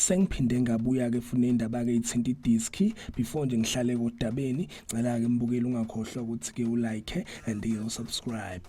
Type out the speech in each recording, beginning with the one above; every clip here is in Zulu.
sengiphinde ngabuya-ke funa indaba-ke ithinta idiski before nje ngihlale kodabeni cela-ke mbukeli ungakhohlwa ukuthi-ke ulike and usubscribe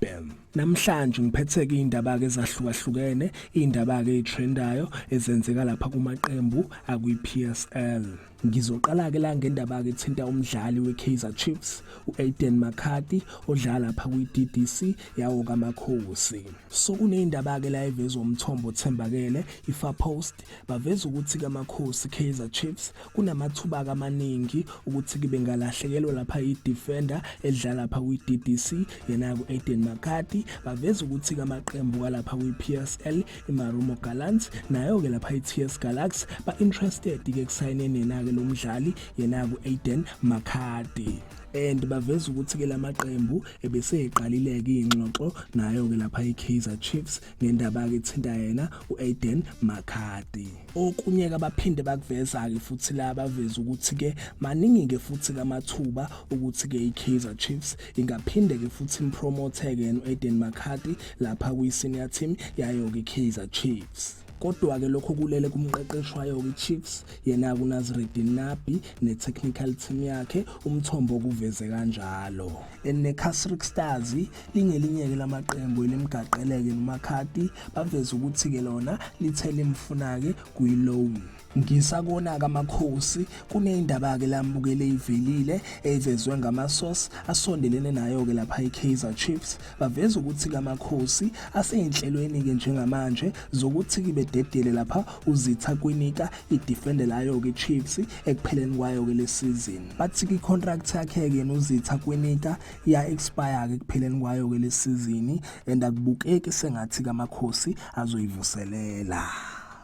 namhlanje ngiphethe-ke iy'ndaba-ke ezahlukahlukene iy'ndaba-ke ey'trendayo ezenzeka lapha kumaqembu akwi-p s l Ngizoqala-ke la ngendaba-ke ethinta umdlali we-Kaizer Chiefs u-Aiden McCarthy odlala lapha kwi-DDC yawo kaMakhosi. So kuneyindaba-ke la evezwa umthombo othembakele iFar Post baveza ukuthi kaMakhosi Kaizer Chiefs kunamathuba amaningi ukuthi kube ngalahlekelwa lapha i-defender edlala lapha kwi-DDC yena ku-Aiden McCarthy baveza ukuthi kamaqembu kalapha kwi-PSL iMarumo Gallants nayo-ke lapha i-TS Galaxy ba-interested-ke ekusayineni yena-ke lo mdlali yena ku-Aiden Makhadi and baveza ukuthi-ke la maqembu ebeseyiqalile-ke iy'ngxoxo nayo-ke lapha i-kaizer chiefs ngendaba-ke ethinta yena u-aiden makhadi okunye-ke abaphinde bakuveza-ke futhi la baveza ukuthi-ke maningi-ke futhi-ke amathuba ukuthi-ke i-kaizer chiefs ingaphinde ke futhi impromote ke uEden McCarthy lapha kwi senior team yayo ke Kaizer Chiefs kodwa ke lokho kulele kumqeqeshi wayo iChiefs yena kuNazreddin Nabi netechnical team yakhe umthombo kuveze kanjalo eneCasric Stars lingelinye ke lamaqembu elimgaqeleke noMakhati baveza ukuthi ke lona lithele imfuna ke kuyiloan Ngisakona kaMakhosi kuneyindaba ke lamukele ivelile evezwe ngamasource asondelene nayo ke lapha iKaizer Chiefs baveza ukuthi kaMakhosi aseyinhlelweni ke njengamanje zokuthi kibe dedele lapha uzitha kwinika idefender layo ke Chiefs ekupheleni kwayo ke lesizini bathi ki contract yakhe ke nozitha kwinika ya expire ke kupheleni kwayo ke lesizini and akubukeki sengathi kaMakhosi azoyivuselela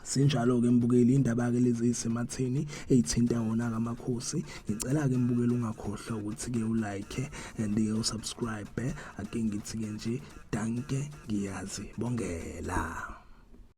Sinjalo-ke mbukeli, indaba-ke lezi eyisematheni eyithinta wona-ke amakhosi. Ngicela-ke mbukeli ungakhohlwa ukuthi-ke ulike and-ke usubscribe. Ake ngithi-ke nje danke ngiyazi bongela.